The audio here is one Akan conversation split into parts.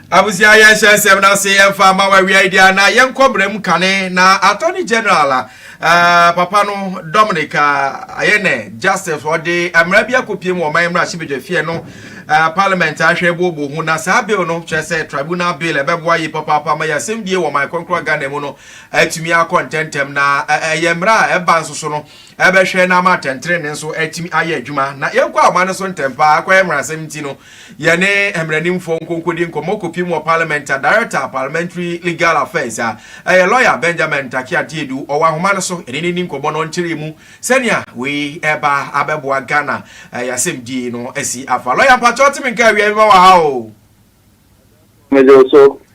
abusua yɛnhyɛ nsɛm no ase yɛmfa ma wawiae deɛ na yɛnkɔ berɛ mu kane na attorney general a uh, papa no dominic uh, ayɛ ne justice ɔde mmara bi akɔpie mu ɔman mmara hyebadwa fie no uh, parliament ahwɛ boɔbɔ ho na saa bill no kyerɛ sɛ tribunal bill ɛbɛboa yi papaapa ma yɛ asɛm die wɔ man kɔnkɔn ghana mu no atumi akɔ ntɛntɛm na ɛyɛ mmara a ɛba nso so no ɛbɛhwɛ na ama atɛntrenee nso atumi ayɛ adwuma na yɛnkɔ ahoma no so ntɛm paa akɔyɛ mmaransɛm nti no yɛne mmaranimfoɔ nkonkodi nkɔmmɔ kɔpie mu wɔ parliament a director a parliamentary legal affairs a ɛyɛ lawyer benjamin ntake adeɛdu ɔwɔ ahoma no so ɛne ne ni nkɔmmɔ no nkyerɛ mu sɛnea wei ɛba abɛboa ghana ɛyɛ asɛmdie no asi afa lawyer mpakyɛw teme nka awia mema wɔ ha o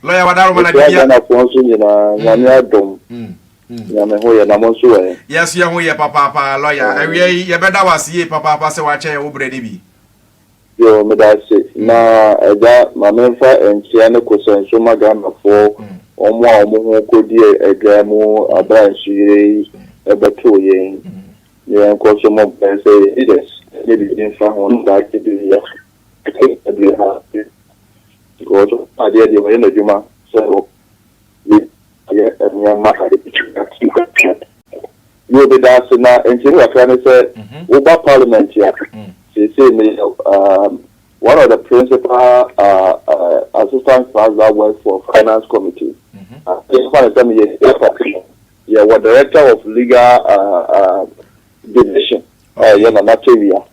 lawyer wadaroma na dibia ghanafoɔ nso nyinaa nyame adom Na me ho yɛ na mo nso wɔ he? Yɛn nso yɛn ho yɛ papaapa, lɔya. Awia yi, yɛbɛda wo ase yie papaapa sɛ woakyɛ yɛn wo berɛ no bi. Yoo, meda ase. Na Agya, ma memfa nkyea ne kosɛ nso mma Ghanafoɔ, wɔn a wɔn ho kɔdi adwaa mu berɛ a nsuyire yi bɛtoo yɛn. Ne yɛnkɔ so mmɔ mpaeɛ sɛ yɛn leaders nyɛ biribi mfa ho na daakye bi yɛ a, yɛbɛka biribi afa ase. Because wɔn adeɛ deɛ wɔyɛ no adwuma sɛ. ne yɛ nneɛma a ebetumi atu atua no. Yiw, meda ase, na nsɛm mu kakra ne sɛ, woba Parliament a, seesei meyɛ one of the principal Assistant Clerks that work for Finance Committee. Yɛmfa no sɛ meyɛ Legal Party no, yɛwɔ Director of Legal Division a ɛyɛ Nana Tawia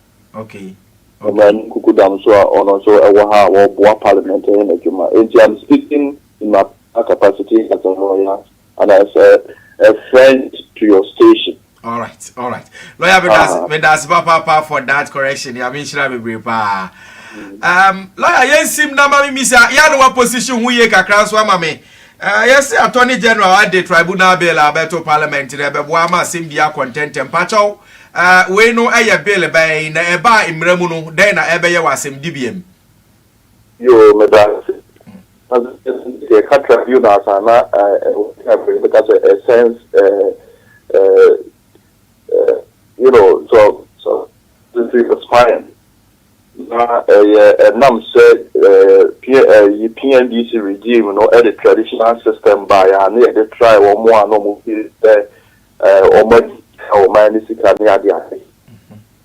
Ɔmanu Kukudam nso a ɔno nso wɔ ha a ɔboa Parliament yɛ n'adwuma. Enti, I'm speaking Map a capacity has a lawyer and as a, a friend to your station. All right, all right. Lawyer, me das, uh, me das, papa, papa, for that correction. Ya min shira bebre pa. Um, lawyer, yen sim na mami misa, ya no wa position hu ye kakra so ama me. Uh, yes, Attorney General ade tribunal bill abeto parliament na bebo ama sim dia content mpacho. Uh, we no eye bill bay na eba imremu no, den na ebe ye wasem dibiem. Yoo meda ase. Na sɛ yɛka tribunals a na ɛwɔ time yɛbɛka sɛ a sense you know so so he was fine na ɛyɛ ɛnam sɛ ɛyi PNDC regime no ɛde traditional system ba yɛ a na yɛde try wɔn a na wɔn fi sɛ wɔn adi wɔn ayɛ ne sika ne ade ade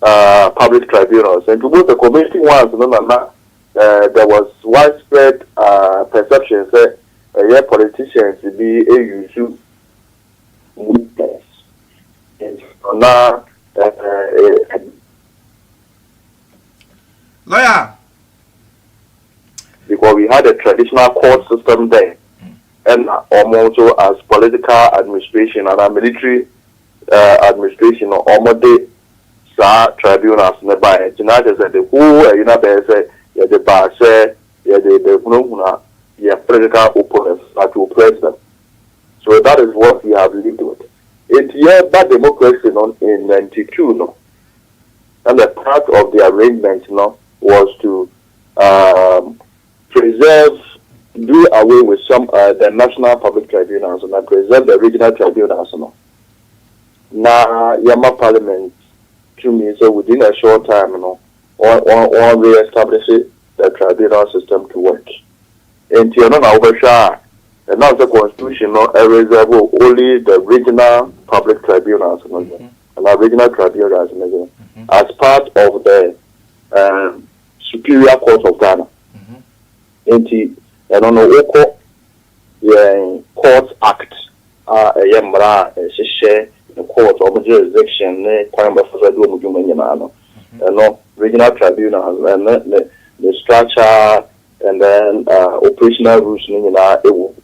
public tribunals and wobɛhu sɛ community ones no na na there was widespread perception sɛ ɛyɛ politicians bi use movements na lawyer because we had a traditional court system there ɛna wɔn nso as political administration and military administration no wɔde saa tribunals no baeɛ nti na kyerɛ sɛ the whole ayi no abɛyɛ sɛ yɛde ba sɛ yɛde bɛhunahuna yɛn political opponents na to oppress them so that is what we have lived with nti yɛba democracy no in 92 no and the part of the arrangement no was to um, Preserve, do away with some uh, the National Public Tribunals and preserve the Regional Tribunals no. Na yɛma Parliament tumi sɛ within a short time no wɔn re-establish the tribunal system to work. Enti ɛno na wobɛhwɛ a ɛnam sɛ constitution no reserve only the regional public tribunals no yɛ anaa regional tribunals no yɛ as part of the um, Superior Court of Ghana nti ɛno no wokɔ yɛn Court Act a ɛyɛ mmara a ɛhyehyɛ court wɔn jurisdiction ne kwan a wɔbɛfa so adi wɔn dwuma nyinaa no ɛno Regional Tribunals ɛno ne ne structure and then uh, operational rules no nyinaa ɛwɔ mu.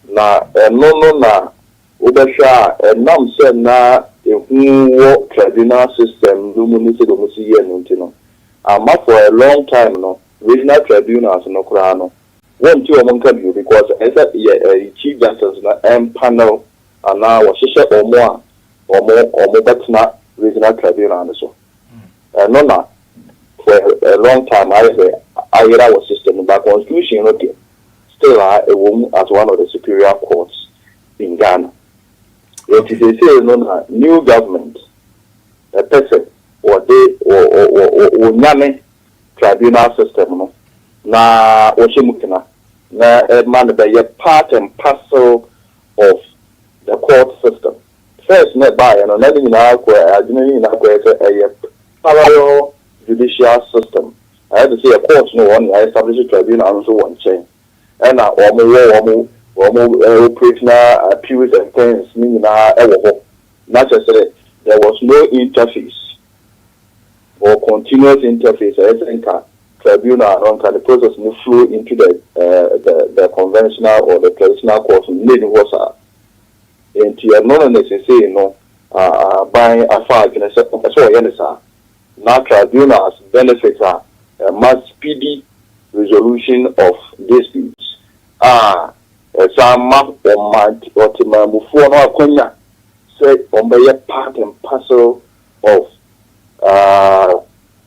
Na ɛno no na wobɛhwɛ a ɛnam sɛ na ehu wɔ tribunal system no mu ne sɛdeɛ wɔsi yɛ no nti no, amma for a long time no regional tribunals no koraa no wɔnte wɔn nka bio because ɛyɛ sɛ yɛ chief justice no mpanel anaa wɔhyehyɛ wɔn a wɔn wɔbɛtena regional tribunal no so. Ɛno na for a long time ayɛ sɛ ayera wɔ system no mu but constitution no deɛ still a ɛwɔ mu as one of the superior courts in Ghana. Nti seesei no na new government ɛpɛ sɛ wɔde wɔnyane tribunal system no na wɔhyɛ mu kena na ɛma no bɛyɛ part and parcel of the court system. First na ɛbaeɛ no na ne nyinaa kɔ adwene no nyinaa kɔyɛ sɛ ɛyɛ parallel judicial system Ayɛ te sɛ yɛ court no wɔ hɔ na yɛ establish tribunal no nso wɔ nkyɛn ɛna wɔn wɔ wɔn wɔn operate na appeals and things ne nyinaa ɛwɔ hɔ na kyerɛ sɛ there was no interface or continuous interface ɛyɛ sɛ nka tribunal no nka ne process no flow into the the the conventional or the traditional court no na ɛni hɔ saa nti ɛno no na sesei no aban afa adwene sɛ ɛsɛ wɔyɛ no saa. Na tribunals benefit a ɛma speedy resolution of disputes a ɛsan ma ɔtemammufoɔ no akwanya sɛ wɔbɛyɛ part and parcel of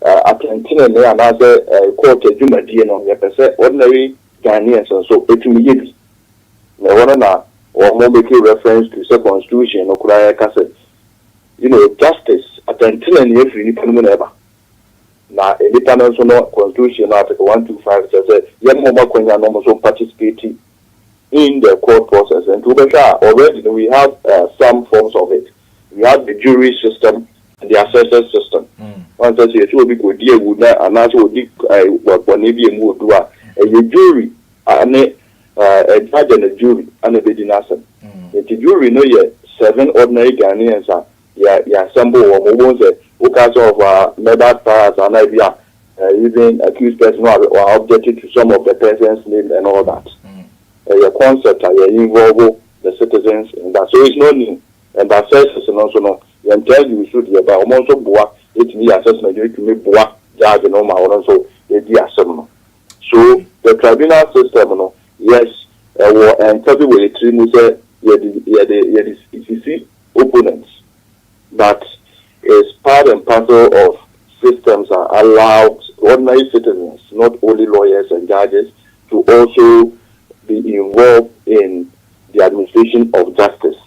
atɛntenenee anaasɛ court adwumadie no, yɛpɛ sɛ ordinary Ghanaians nso tumi yɛ bi. Na ɛhɔ no na wɔmake reference to sɛ constitution no koraa ka sɛ You know, justice, atɛntenenee afiri nnipa no mu na ɛba. Na nnipa no nso no, constitution no article one two five kyerɛ sɛ yɛma wɔn akwanya na wɔn nso participate in the court process. Nti wobɛhwɛ a already no we have uh, some forms of it. We have the jury system and the assessors system. Wɔn sɛ sɛ yɛsɛ obi kɔdi awu na anaasɛ ɔdi uh, bɔne bi emu odu a, ɛyɛ jury ne Na ɛnyɛ adɛ na jury na ɛbɛdi n'asɛm. Nti jury no yɛ seven ordinary Ghanaians a yɛ yɛ assemble wɔn. Wobɛhu sɛ woka sɛ of our murder trials anaa ebi a even accused person no a wa object to some of the persons name and all that. Ɛyɛ concept a yɛ involve the citizens in that. So it's not new. And bassesses no nso no yɛn taa use so deɛ ɛba. Wɔn nso boa tumi yɛ assessment no tumi boa judge no ma ɔno nso ɛdi asɛm no. So the tribunal system no yes ɛwɔ ɛnfa bi wɔ yɛ tiri mu sɛ yɛde yɛde yɛde sisi opponents but is part and parcel of systems a allow ordinary citizens not only lawyers and judges to also be involved in the administration of justice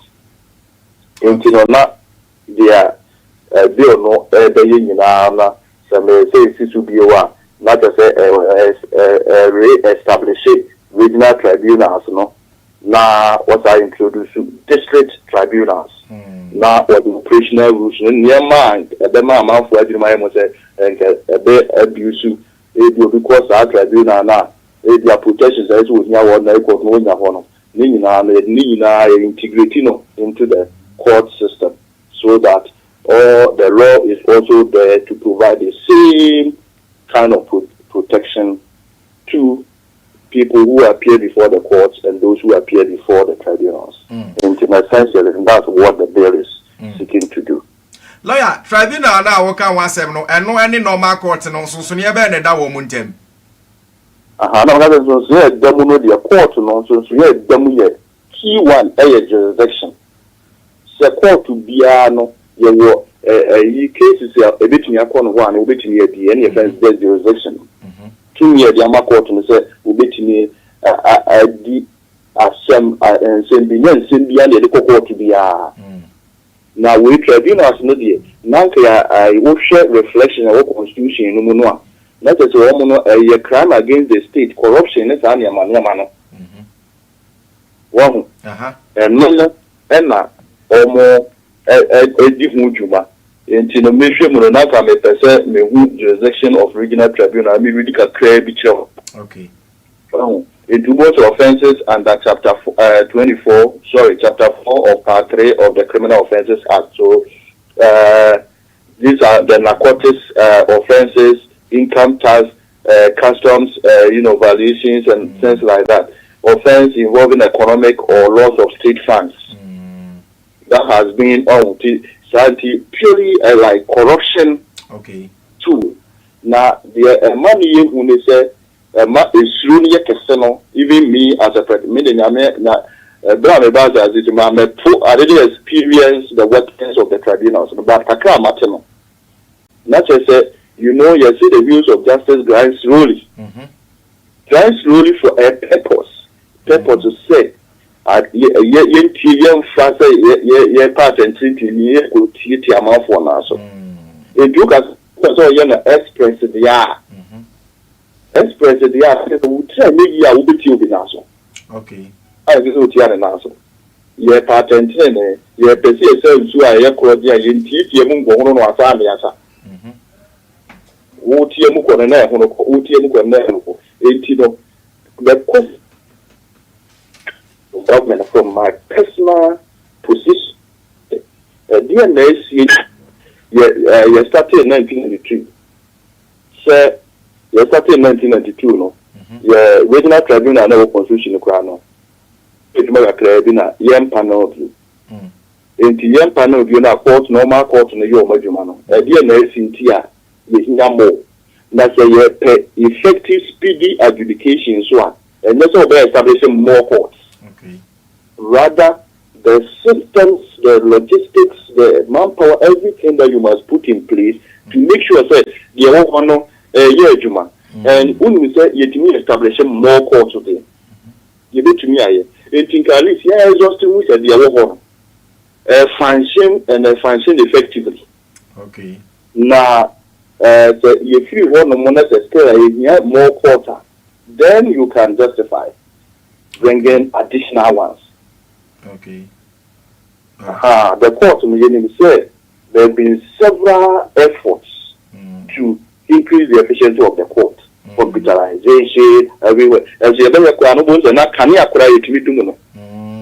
nti no na deɛ bill no ɛɛbɛyɛ nyinaa na Sɛ me nsa esi so bio a, na kyerɛ sɛ re establish regional tribunals no na wɔsan introduce district tribunals na wɔde operational rules no nneɛma a ɛbɛma amanfoɔ adwene mu ayɛ mu sɛ nka ɛbɛ abuse ebi obi kɔ saa tribunal no a ebi a protections a ɛsɛ wɔhia wɔ ordinary court no wɔnya hɔ no ne nyinaa no yɛde ne nyinaa yɛ integrate no into the court system so that Or the law is also there to provide the same kind of protection to people who appear before the courts and those who appear before the tribunals. Mm. And in essentially, and that's what the bill is mm. seeking to do. Lawyer, tribunal na woka ho asɛm no, ɛno ɛne normal court no nsonsonoeɛ bɛn na ɛda wɔn mu ntam? Aha, na wɔka sɛ nsonsonoeɛ ɛda mu no deɛ court no nsonsonoeɛ ɛda mu yɛ Key one yɛ jurisdiction. Sɛ kɔɔto biara no yɛwɔ ayi cases a ɛbɛtumi akɔ no hɔ a na wɔbɛtumi adi, ɛne yɛfrɛ no sɛ jurisdiction. Tumi a yɛde ama kɔɔto no sɛ wɔbɛtumi adi asɛm, nsɛm bi, nyɛ nsɛm biara na yɛde kɔ kɔɔto biara. Na wei tribunals no deɛ, na anka yɛ ayi wohwɛ reflection a ɛwɔ constitution no mu no a, na kyerɛ sɛ wɔn no ɛyɛ crime against the state, corruption ne saa nneɛma nneɛma no. Wahu? Ɛno no na wɔredi ho dwuma. Enti no mehwɛ mu no, na anka mepɛ sɛ mehu jurisdiction of regional tribunal, na meredi kakraa bi kyerɛ wɔn. Wahu? Enti wobɛhu sɛ offences under chapter twenty four, sorry, chapter four of part three of the Criminal Offences Act. So these are the narcotics offences, income tax, customs eh you know valuations and things like that offence involving economic or loss of state funds that has been ɔn oh, ti saa nti purely eh, like corruption okay. tool na deɛ ɛma no yɛ hu ne sɛ ɛma esuro no yɛ kɛse no even me as a friend me de nyame na ɛberɛ a meba asase so ma mɛpo I didn't experience the workings of the tribunals but kakra a mate no Na kyerɛ sɛ, you know, yɛse the wheels of justice grind slowly, grind slowly for a purpose, purpose sɛ yɛ yɛntie, yɛmfa sɛ yɛ yɛpɛ asɛntrentenee ni yɛ kɔ tie tie amanfoɔ no ara so. Enti woka sɛ wopɛ sɛ ɔyɛ no express deɛ a, express deɛ a, kyerɛ sɛ wo tiri anyɛ yie a wobɛtie obi nan so. Okay. A ɛnsɛ sɛ wotia ne nan so. Yɛpɛ atɛntenenee. Yɛpɛ sɛ yɛsa nsu a ɛyɛ korɔ gye a yɛntiatia mu nkɔhono no asa ne asa. Wotia mu kɔ no, na ɛhono kɔ. Wotia mu kɔ no, na ɛhono kɔ. Enti no, the question of government from my personal position, ɛdeɛn na asie? Yɛ, eh, yɛstartee 1992. Sɛ yɛstartee 1992 no, yɛ Regional Tribunal na ɛwɔ Constitution no koraa no, Edwuma kakraa bi na yɛmpa no bio. Enti yɛmpa no bio na kɔɔto no, wɔma kɔɔto no yɛ wɔn adwuma no. Ɛdeɛn na asi nti a yɛhia more? Na sɛ yɛpɛ effective speedy adjudication nso a, ɛnyɛ sɛ wɔbɛ establish more courts. Rather, the systems, the logistics, the manpower, everything that you must put in place to make sure sɛ deɛ ɛwɔ hɔ no ɛreyɛ adwuma. And wonim sɛ yɛtumi establish more courts deɛ, yɛbɛtumi ayɛ. Enti nka at least yɛ exhaust hu sɛ deɛ ɛwɔ hɔ no ɛfunction and ɛfunction effectively. Na sɛ yɛfiri hɔ nom na sɛ still ɛhia more court a, then you can justify bringing additional ones. Aha, the court no yɛnim sɛ There have been several efforts to increase the efficiency of the court, computerization everywhere, nanso yɛbɛhwɛ koraa no wobɛhu sɛ na kanea koraa yɛtumi dum no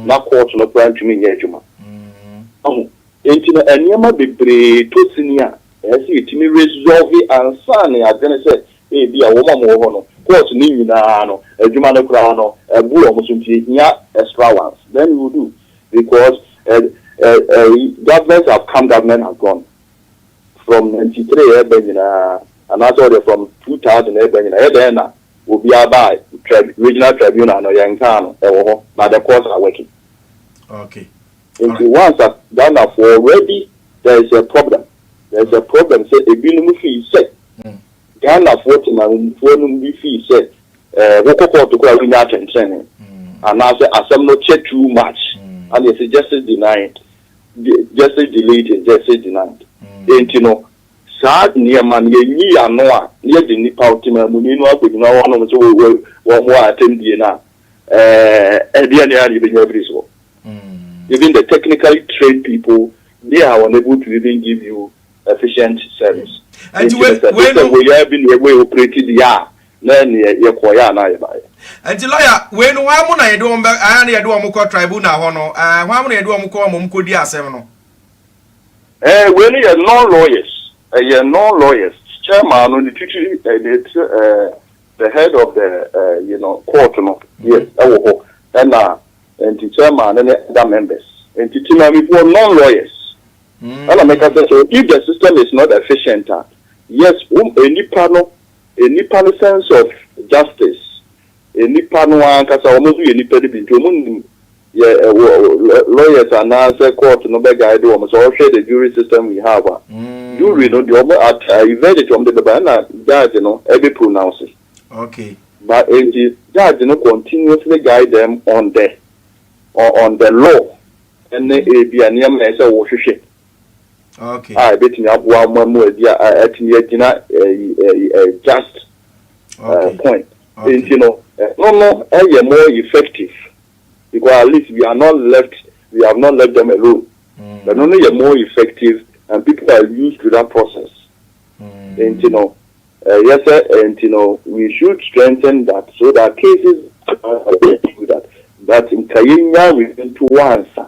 na court no koraa ntumi nyɛ adwuma. Ahu? Enti no nneɛma bebree tɔ sini a ɛsɛ sɛ yɛtumi resolve ansa na yɛadwene sɛ ebia wɔn a wɔwɔ hɔ no, court no nyinaa no adwuma no koraa no abu wɔn so nti ɛhia extra ones. Then we will do. Because eh eh eh government have come government has gone from ninety three ɛɛba nyinaa anaa sɛ ɔdeɛ from two thousand ɛɛba nyinaa ɛyɛ dɛn na obiara baa trib regional tribunal no yɛn nkaa no ɛwɔ hɔ but the courts are working Okay nti alright. once a Ghanafoɔ already there is a problem there is a problem sɛ ebinom fii sɛ Ghanafoɔ temanmufoɔ nom bi fii sɛ Wokɔ kɔɔto koraa a wonnya atsɛntsenenee anaasɛ asɛm no kyɛ too much a na yɛse justice denied, justice delayed is justice denied. Ntsi no saa nneɛma no yɛnyi yɛano a na yɛgye nnipa a ɔtemanmuni no akɔgyina hɔ nom sɛ wɔn wɔ atɛmdie no a ɛdeɛ ne a na yɛbɛnya afiri soɔ. Even the technically trained people they are unable to even give you efficient service. Nti no sɛ system wei yɛ bi na yɛbɔ yɛ operate deɛ a Na ɛneɛ yɛkɔeɛ anaa yɛbaeɛ? Nti lɔya wei no hwan mo na yɛde wɔn bɛ ɛɛ na yɛde wɔn kɔ tribunal hɔ no ɛɛ hwan mo na yɛde wɔn kɔ ma wɔn kɔdi asɛm no? Ɛɛ wei no yɛ non lawyers ɛyɛ non lawyers chairman no ne titiri ɛɛ ɛɛ the head of the ɛɛ you know court no yes ɛwɔ hɔ ɛna nti chairman no ne other members nti timaamifoɔ non lawyers ɛna mɛka sɛ so if the system is not efficient a yes wɔn nnipa no. Nnipa no sense of justice, nnipa no ankasa, wɔn nso yɛ nnipa no bi nti wɔn nim yɛ wɔ lawyers anaasɛ court no bɛ guide wɔn sɛ ɔhwɛ the jury system we have a, jury no deɛ wɔn at ayi verdict wɔn de bɛba ɛna judge no ɛbɛ pronounce. Okay. But nti judge no continuously guide them on the on the law ɛne ebi a nneɛma ɛsɛ wɔhwehwɛ. Okay. a ebetumi aboa wɔn ama wɔadi a a- atumi agyina ɛyi ɛyi ɛyi just eh, Okay. point. Okay. Nti no, ɛno no ɛyɛ more effective because at least we are not left, we have not left them alone. Mm, Ɛno no yɛ more effective and people are used to that process. mm, Nti no, ɛyɛ sɛ eh, nti no we should strengthen that so that cases are do that. But nka yɛnya within two ansa.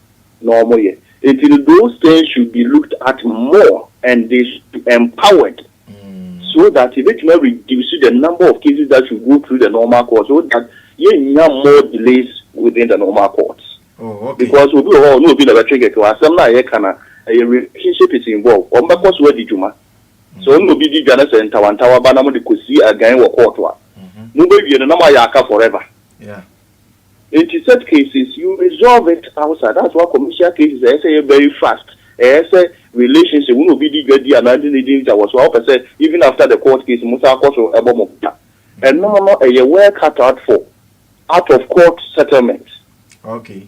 na ɔmo yɛ nti no those things should be looked at more and they should be empowered so that yɛbɛtumi a reduce the number of cases that should go through the normal court so that yɛnnya more delays within the normal court oh, because obi wɔ hɔ na obi na bɛtwe kɛkɛ asɛm no a yɛka na ɛyɛ relationship is involved wɔn bɛkɔ so adi dwuma sɛ ɔno obi di dwa no sɛ ntawantawa ba na mo de kɔsi agan wɔ court a mobɛwie no na moayɛ aka forever Nti such cases you resolve it outside that's why commercial cases ɛyɛ sɛ ɛyɛ very fast ɛyɛ sɛ relationship wo na obi di dwadi anaa ɛnti na edi nti a wɔ so a wopɛ sɛ even after the court case mo san kɔ so bɔ mo bra ɛno no ɛyɛ well cut out for out of court settlement. Okay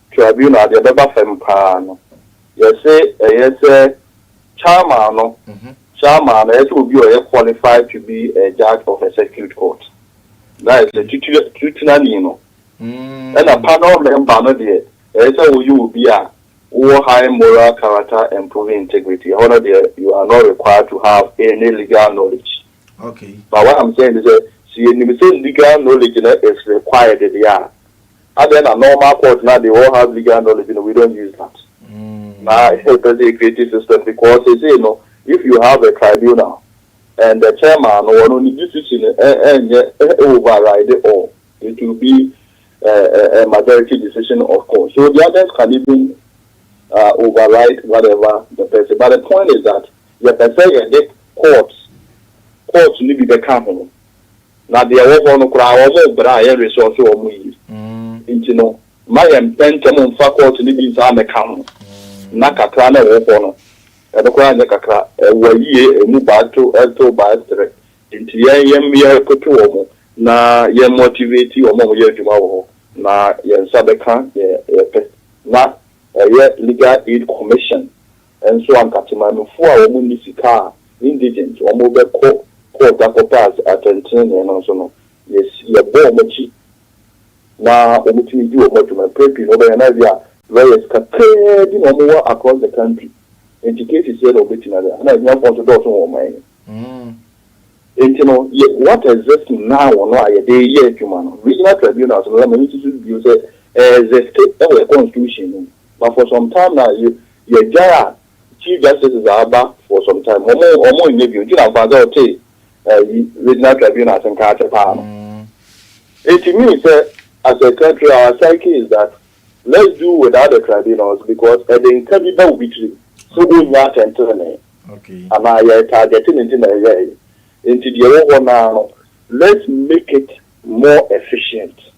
Tribunal deɛ ɛbɛba fam paa no, yɛse ɛyɛ sɛ Chairman no, Chairman no, ɛyɛ sɛ obi a ɔyɛ qualified to be a judge of a circuit court. That is, titire, titirani no. Ɛna panel member no deɛ, ɛyɛ sɛ woyɛ obi a wowɔ high moral character and proven integrity. Ɛhɔ no deɛ, you are not required to have any legal knowledge. Okay. But what I'm saying is that, sɛ yɛnim sɛ legal knowledge no is required deɛ a, Adɛn na normal court na they all have legal knowledge no we don't use that na yɛ pɛ sɛ yɛ create system because seesei no if you have a tribunal and the chairman no ɔno ne decision no ɛ ɛnyɛ ɛ override all it will be ɛ ɛ ɛ majority decision of course so the others can even uh, override whatever the person but the point is that yɛ pɛ sɛ yɛ de court court no bi bɛka ho. na deɛ ɛwɔ hɔ no koraa wɔn brɛ a yɛn resɔɔse wɔn yie nti no ma yɛn ntɛntɛm mfa kɔɔto no bi nsan mmɛka ho na kakra na ɛwɔ hɔ no ɛno koraa nyɛ kakra ɛwa yie ɛmu baako ɛto baako tere nti yɛn yɛn yɛkoto wɔn na yɛn motivate wɔn a wɔyɛ adwuma wɔ hɔ na yɛn nsa bɛka deɛ yɛpɛ na ɛyɛ Legal Aid Commission Nso anka Temanofo a wɔn nni sika a, indigent, wɔn bɛ kɔ court akɔ pass atɛntenenee no nso no, yɛ yɛ bɔ wɔn akyi na wɔn tumi di wɔn adwuma. Mpɛn pii no wɔbɛ yɛ no ebi a lawyers kakraa bi na wɔn wɔ across the country, nti cases sɛɛ na wɔn bɛ tumi ayɛ. Ɛna ahiafoɔ nso dɔɔso wɔ ɔman yi mu. Nti no yɛ what exist now no a yɛde yɛ adwuma no, regional tribunals no, na m'ani susu bio sɛ ɛɛ exist wɔ yɛ constitution no mu, but for some time now yɛ Yɛgyae a chief justices a aba for some time ɔmo ɔmo nyɛ bio nti na mfaa sɛ ɔte ɛyi regional tribunal ase nka akyɛ paa no it means sɛ as a country our psyche is that let's do without the tribunals because ɛde nka bi ba obi tirim sɛ ɔnnya atɛntrenee anaa yɛ targete no nti na ɛyɛɛye nti deɛ ɛwɔ hɔ no ara no let's make it more efficient.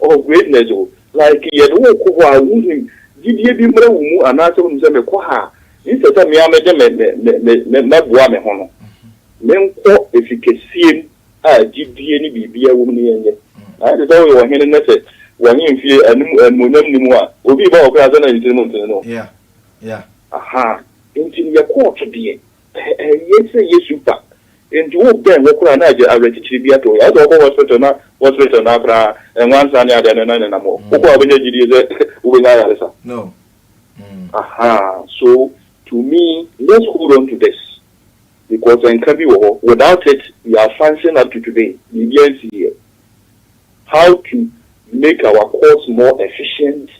Oh greatness o, like yɛde wo rekɔ hɔ a wohim gyidie bi mmra wo mu anaasɛ wonim sɛ mekɔ ha a instead sɛ me ara mɛde me me me me mɛboa me ho no menkɔ ɛfi kɛseɛ mu a gyidie ne biribiara wɔ mu no yɛnyɛ ayɛ te sɛ woyɛ ɔhene na sɛ w'ahemfie anim animuonyam nni mu a obi reba hɔ koraa sɛ na ne tirim ntene no Yeah yeah. Ahaa nti no yɛkɔɔ to deɛ Ɛnyɛ sɛ Yesu ba nti wo bɛn hɔ koraa na agye awerɛkyekyerɛ bi ato hɔ yɛ. Wo sɛ wɔkɔ hospital na hospital no ara koraa nwansa ne adeɛ no na nenam hɔ. Wokɔ a wobɛnya gyidie sɛ wobɛnya ayaresa? Ahaa so to me let's hold on to this because nka bi wɔ hɔ without it we are functioning up to today biribiara nsi yie. How to make our courts more efficient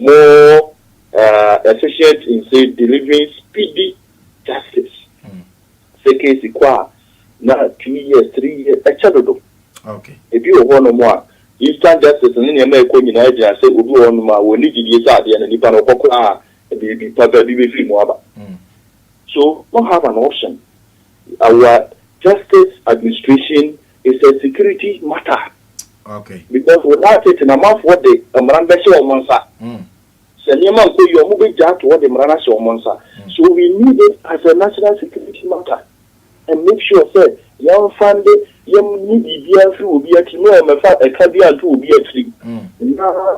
more uh efficient in say delivering speedy justice sɛ case kɔ a na two years three years ɛkyɛ dodo ebi wɔ hɔ nom a instant justice ne nneɛma ɛkɔ nyinaa gyina sɛ obi wɔ hɔ nom a wɔn ne gyidie sɛ adeɛ no nipa no ɔkɔ koraa a biribi papa bi bɛfiri mu aba so don't have an option our justice administration It's a security matter okay because without it na amanfoɔ de mmara no bɛhyɛ wɔn nsa. Sɛ nneɛma nkɔ yie a wɔbɛgya ato hɔ de mmara no ahyɛ wɔn nsa. So we need it as a national security matter and make sure sɛ yɛnfande yɛnyi biribiara mfiri obiara tirim na wɔmmɛfa ɛka biara nto obiara tirim na.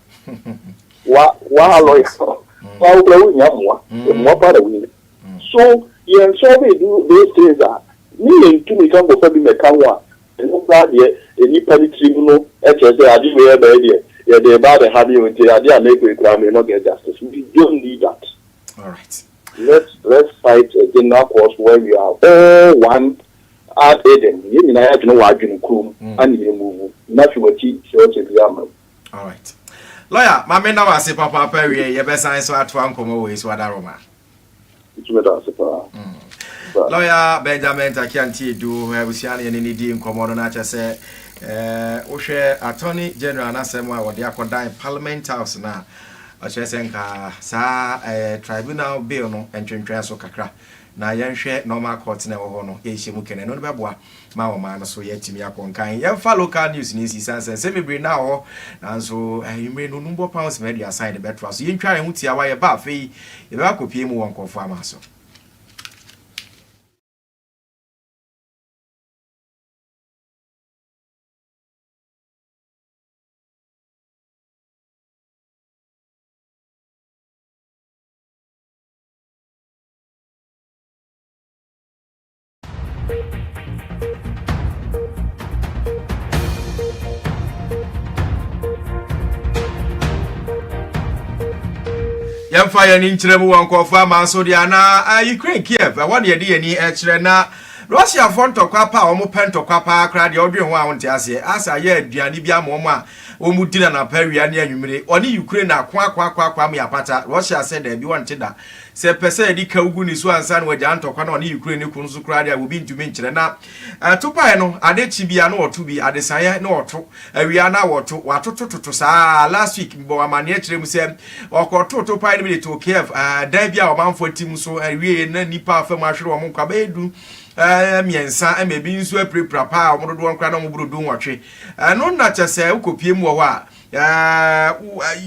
wa wa alɔy wa wo kura wo nya mmoa mmoa pa na wei so yɛn sɔɔ bɛ du those things a ne yɛn ntumi ka nkɔfa bi na ɛka ho a ɛno koraa deɛ nnipa ne tiri mu no ɛkyerɛ sɛ ade wei ɛbɛyɛ deɛ yɛde ɛbaa bɛ ha bi nti ade a mɛkɔ ekura me no get justice we don't need that let's let's fight a general cause where we are all one ad eden yɛn nyinaa yɛ adwene wɔ adwene kuro mu ɛna yɛn mu vu na fi wɔkyi sɛ ɔkyɛ bi ama mu. Alright. Lawyer, ma me nam ase papaapa wie yɛbɛsan so atoa nkɔmmɔ wɔ esu ada Roma. Ntumi da ase paa. Mm. Lawyer Benjamin Takianti Edu, abusua ne yɛne ne di nkɔmmɔ no na kyɛ sɛ eh, wohwɛ Attorney General n'asɛm a wɔde akɔdan Parliament House no a, ɔkyerɛ sɛ nka saa eh, tribunal bill no ntwentwɛn so kakra. na yɛnhwɛ normal court na ɛwɔ hɔ no ɛrehyɛ mu kɛnɛ no no bɛboa ma ɔman no so yɛatumi akɔ nkan yɛmfa local news no nsi san sɛ nsɛm bebree na wɔ nanso anwummere no no bɔ pounds ma aduasa yɛde bɛtoa so yɛntwa yɛn ho tiawa yɛba afei yɛbɛba akɔpie mu wɔ nkurɔfoɔ ama so yɛmfa yɛn ani nkyerɛ mu wɔ nkurɔfo ama nso deɛ anaa eh, ukraine kiev ɛwɔ eh, deɛ ɛde yɛn ani kyerɛ na russiafoɔ ntɔkwa pa a wɔn pɛ ntɔkwa paa koraa deɛ ɔdwen ho a wɔnte aseɛ asa yɛ aduane bi ama wɔn a wɔn di na napa awia ne anwummere ɔne ukraine akoakoakoakoa mu apata russia sɛ daabi wɔnte da Sɛ ɛpɛ sɛ ɛde kaw gu ne so ansa na wagyaa ntɔkwa no a ɔne Ukraine no ko no so koraa de a, obi ntumi nkyerɛ. Na topae no, ade kye bi a na wɔto bi, adesaeɛ na wɔto, awia na wɔto, wɔatotototo saa ara. Last week, mebɔɔ amanneɛ kyerɛɛ mu sɛ wɔkɔtoo topae no bi de too Kiev, dan bi a ɔmanfo ate mu so. Ɛwieeɛ no, na nnipa afa mu ahwere wɔn nkwa bɛyɛ du mmiɛnsa, ɛma ebi nso apirapira paa a wɔn dodoɔ no koraa na wɔboro dunwɔtwe. Ɛno na kyɛ sɛ wokɔpue mu wɔ hɔ a,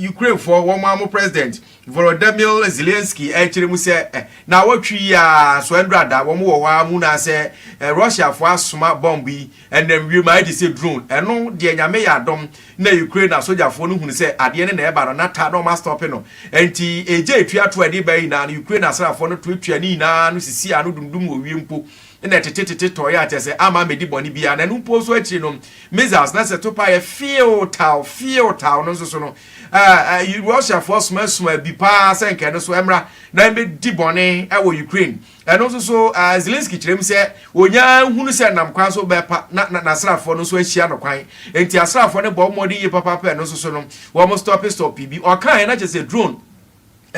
Ukrainefoɔ, wɔn ara mo president, Volodymyr Zelensky rekyerɛ mu sɛ naawɔtwe yi ara so ɛndura da wɔn wɔ hɔ ara mu na sɛ Russiafoɔ asoma bɔmb yi ɛnam wiem a ɛgye sɛ drone ɛno deɛ Nyame yɛ adom na Ukraine asogyafoɔ no hunu sɛ adeɛ no na ɛreba no na ta na wɔn astɔpe no ɛnti ɛgya ɛtua to a ɛde baeɛ nyinaa no Ukraine asraafoɔ no tuatua ne nyinaa ano sisii ano dumdum wɔ wiem mpo na ɛtetetete tɔeɛ a kyerɛ sɛ amma ammɛdi bɔne biara na ɛno mpo nso akyiri no missiles no sɛ to paa yɛ feew taw feew taw no nso so no Ɛɛ, Russiafoɔ sumasuma bi paa sɛ anka ɛno so ɛmmra na ɛmmɛdi bɔne wɔ Ukraine. Ɛno nso so, ɛɛ, Zelensky kyerɛ mu sɛ ɔnya hunu sɛ ɛnam kwan so bɛpa na na n'asraafoɔ no nso ahyia no kwan. Enti asraafoɔ no bɔ mmɔden yie papaapa a ɛno nso so no, wɔstɔpe stɔpee bi. Ɔkaeɛ na kyerɛ sɛ drone.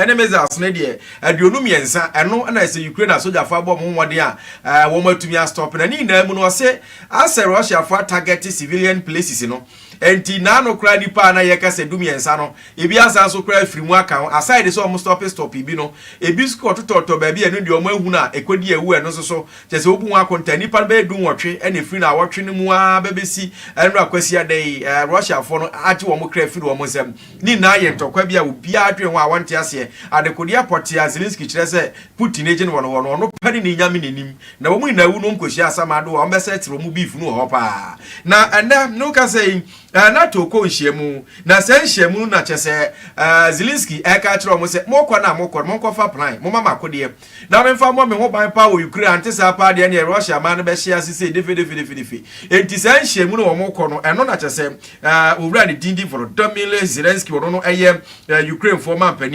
ne missiles no deɛ aduonu mmiɛnsa ɛno na ɛsɛ Ukraine asogyafo abɔ wɔn ho mmɔden a eh, wɔn atumi astɔp na ne nyinaa mu no ɔse asɛ Russiafo atagɛte civilian places no nti na ano koraa nipa a na yɛka sɛ du mmiɛnsa no ebi asan nso koraa afiri mu aka ho aside sɛ wɔn stɔpe stɔpe bi no ebi nso kɔtotɔtɔ baabi ɛno deɛ wɔn ahunu a ɛkɔdi awu ɛno nso so kyɛ sɛ wobu ho akonta nipa no bɛyɛ du nwɔtwe ɛna ɛfiri na awɔtwe no mu ara bɛbɛsi ɛnora kwasiada yi eh, Russiafo no agye wɔn kra firi wɔn nsam Ne nyinaa yɛ ntɔkwa bi a obiara dwen ho a ɔnte aseɛ. Adekodeɛ pɔtee a Zelensky kyerɛ sɛ Putin agye no wɔ no hɔ no, ɔno pɛ ne ne Nyame n'anim. Na wɔn nyinaa wu no nkɔhyia asamado a ɔmbɛsɛɛtere wɔn beef no wɔ hɔ paa. Na ɛnnɛ, ne wo kasa yi, eh, NATO kɔ nhyiamu. Na saa nhyiamu no na kyerɛ sɛ, eh, Zelensky ɛreka akyerɛ wɔn sɛ, Mokɔ no a mokɔ no, monkɔfa plan, momma mo akodeɛ. Na memfa mmɔ me ho ban paa wɔ Ukraine, ante saa paa deɛ ɛneɛ Russia man no bɛhye ase sei defedefedefedefe. Enti saa nhyiamu no wɔn kɔ no, ɛno na kyɛsɛ Owura ne din de Volodymyr Zelensky, ɔno no ɛyɛ Ukrainefoɔ manpanin.